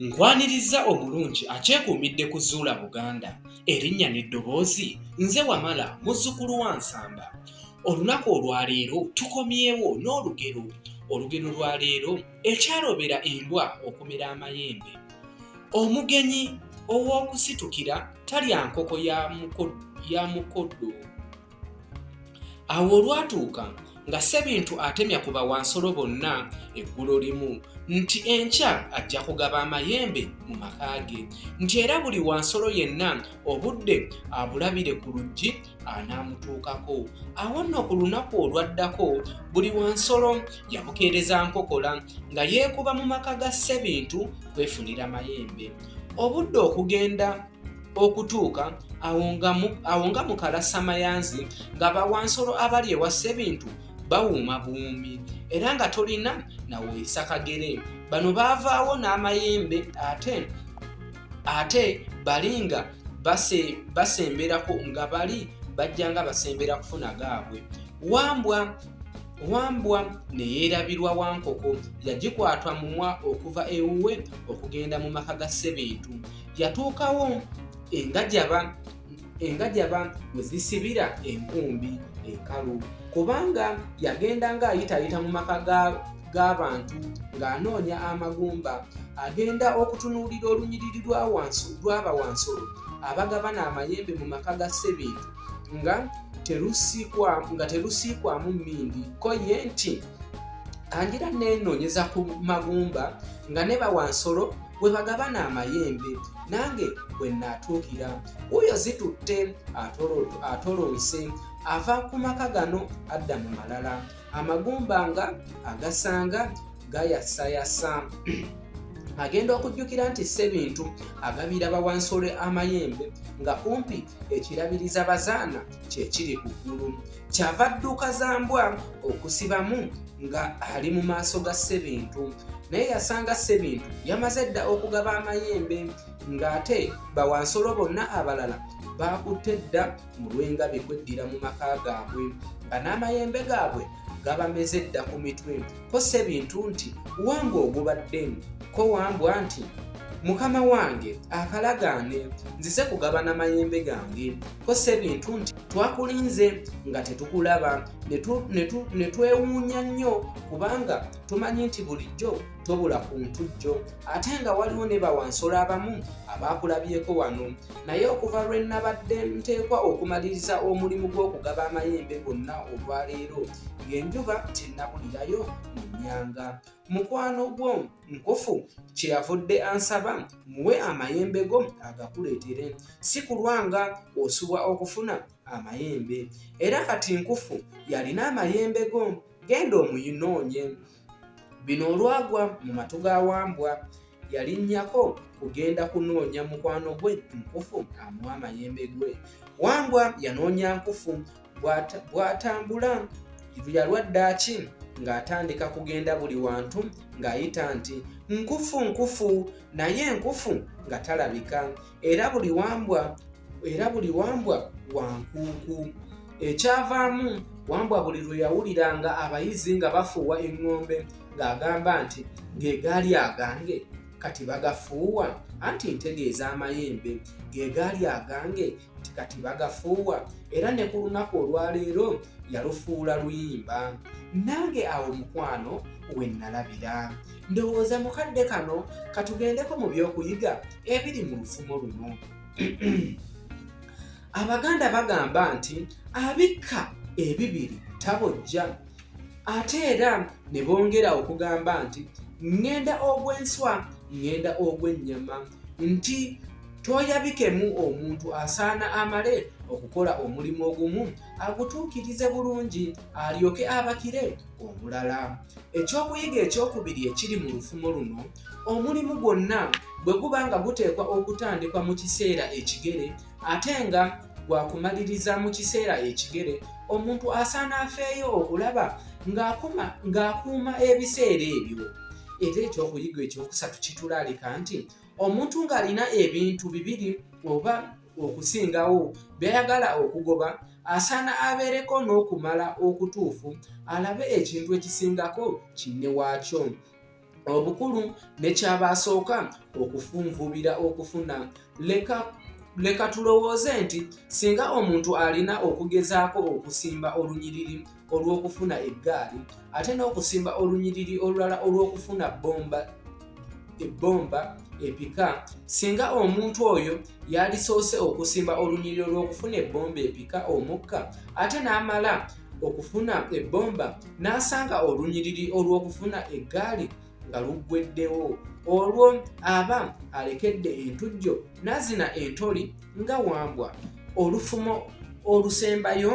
Nkwanirizza omulungi akyekuumidde ku Zuula Buganda, erinnya n'eddoboozi, nze Wamala muzzukulu wa Nsamba. Olunaku olwaleero tukomyewo n'olugero. Olugero lwa leero, Ekyalobera embwa okumera amayembe. Omugenyi ow'okusitukira talya nkoko ya mukoddo. awo olwatuuka nga sebintu atemya ku bawansolo bonna eggulo limu nti enkya ajja kugaba amayembe mu maka ge nti era buli wansolo yenna obudde abulabire ku luggi anaamutuukako awo nno ku lunaku olwaddako buli wansolo yabukeereza nkokola nga yeekuba mu maka ga sebintu kwefunira mayembe obudde okugenda okutuuka awo nga mukalasamayanzi nga bawansolo abali ewa ssebintu bawuuma buwuumi era nga tolina naweesa kagere bano baavaawo n'amayembe ate ate bali nga basemberako nga bali bajja nga basembera kufuna gaabwe wambwa wambwa neyeerabirwa wankoko yagikwatwa mumwa okuva ewuwe okugenda mu maka ga ssebintu yatuukawo engajaba engajaba we zisibira enkumbi enkalu kubanga yagenda ng'ayitaayita mu maka g'abantu ng'anoonya amagumba agenda okutunuulira olunyiriri lw'aba wansolo abagabana amayembe mu maka ga ssebintu nga terusiikwamu mmindi ko ye nti kangira neenoonyeza ku magumba nga ne bawansolo bwe bagabana amayembe nange bwe naatuukira wuuyo zitutte atolonse ava ku maka gano adda mu malala amagumba nga agasanga gayasayasa agenda okujjukira nti ssebintu agabira bawansole amayembe nga kumpi ekirabiriza bazaana kyekiri ku ggulu kyava dduuka za mbwa okusibamu nga ali mu maaso ga ssebintu naye yasanga ssebintu yamaze dda okugaba amayembe ng'ate bawansolo bonna abalala baakutte dda mu lw'engabi kweddira mu maka gaabwe nga n'amayembe gaabwe gabameze dda ku mitwe ko sebintu nti wange ogubadde ko wambwa nti mukama wange akalagaane nzize kugabana mayembe gange ko sebintu nti twakulinze nga tetukulaba ne twewuunya nnyo kubanga tumanyi nti bulijjo tobula ku ntujjo ate nga waliwo ne bawansolo abamu abaakulabyeko wano naye okuva lwe nnabadde nteekwa okumaliriza omulimu gw'okugaba amayembe gonna olwaleero ng'enjuba tennabulirayo mu nnyanga mukwano gwo nkufu kye yavudde ansaba muwe amayembe go agakuleetere si kulwanga osubwa okufuna amayembe era kati nkufu yalina amayembe go genda omuyinoonye Bino olwagwa mu matu ga Wambwa, yalinnyako kugenda kunoonya mukwano gwe Nkufu amuwa amayembe gwe. Wambwa yanoonya Nkufu bw'atambula yalwa ddaaki ng'atandika kugenda buli wantu ng'ayita nti nkufu nkufu naye nkufu nga talabika era buli wambwa era buli wambwa wa nkuuku ekyavaamu wambwa buli lwe yawulira nga abayizi nga bafuuwa eŋŋombe ng'agamba nti ge gaali agange kati bagafuuwa anti ntegeeza amayembe ge gaali agange nti kati bagafuuwa era ne ku lunaku olwaleero yalufuula luyimba nange awo mukwano we nnalabira ndowooza mukadde kano katugendeko mu by'okuyiga ebiri mu lufumo luno abaganda bagamba nti abikka ebibiri tabojja ate era ne bongera okugamba nti ŋŋenda ogw'enswa ŋŋenda ogw'ennyama nti toyabikemu omuntu asaana amale okukola omulimu ogumu agutuukirize bulungi alyoke abakire omulala ekyokuyiga ekyokubiri ekiri mu lufumo luno omulimu gwonna bwe guba nga guteekwa okutandikwa mu kiseera ekigere ate nga gwakumaliriza mu kiseera ekigere omuntu asaana afeeyo okulaba ng'akuuma ebiseera ebyo era ekyokuyiga ekyokusatu kitulaalika nti omuntu ng'alina ebintu bibiri oba okusingawo byayagala okugoba asaana abeereko n'okumala okutuufu alabe ekintu ekisingako kinne waakyo obukulu nekyabasooka okufunvubira okufuna leka leka tulowooze nti singa omuntu alina okugezaako okusimba olunyiriri olw'okufuna eggaali ate n'okusimba olunyiriri olulala olw'okufuna bbomba ebbomba epika singa omuntu oyo Yalisoose okusimba olunyiriro lw'okufuna ebbomba epika omukka ate n'amala okufuna ebbomba n'asanga olunyiriri olw'okufuna eggaali nga luggweddewo olwo aba alekedde entujjo n'azina entoli nga wambwa olufumo olusembayo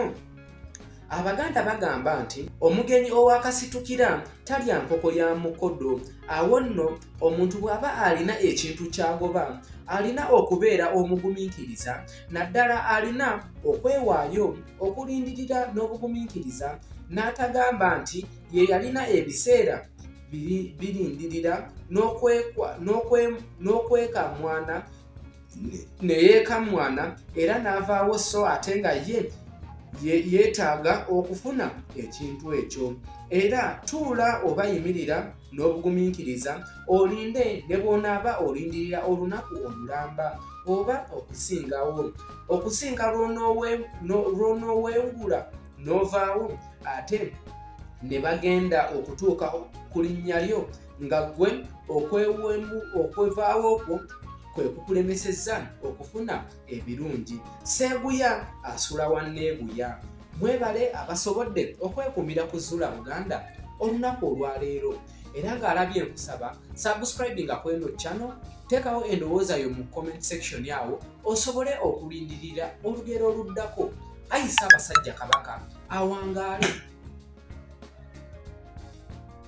abaganda bagamba nti omugenyi owakasitukira talya nkoko ya mukodo awo nno omuntu bw'aba alina ekintu kyagoba alina okubeera omugumiikiriza naddala alina okwewaayo okulindirira n'obugumiikiriza n'atagamba nti ye yalina ebiseera birindirira n'okwekamwana ne yeekammwana era n'avaawo so ate nga ye yeetaaga okufuna ekintu ekyo era tuula oba yimirira n'obugumiikiriza olinde ne bw'onaaba olindirira olunaku olulamba oba okusingawo okusinga lw'onooweewula n'ovaawo ate ne bagenda okutuuka ku linnya lyo nga gwe okwewemu okwevaawo kwo kwe kukulemesezza okufuna ebirungi seeguya asula wa neeguya mwebale abasobodde okwekumira ku zula buganda olunaku olwaleero era ng'alabye nkusaba subscribinga kweno cano teekawo endowooza yo mu comment section awo osobole okulindirira olugero oluddako ayisa abasajja kabaka awangaale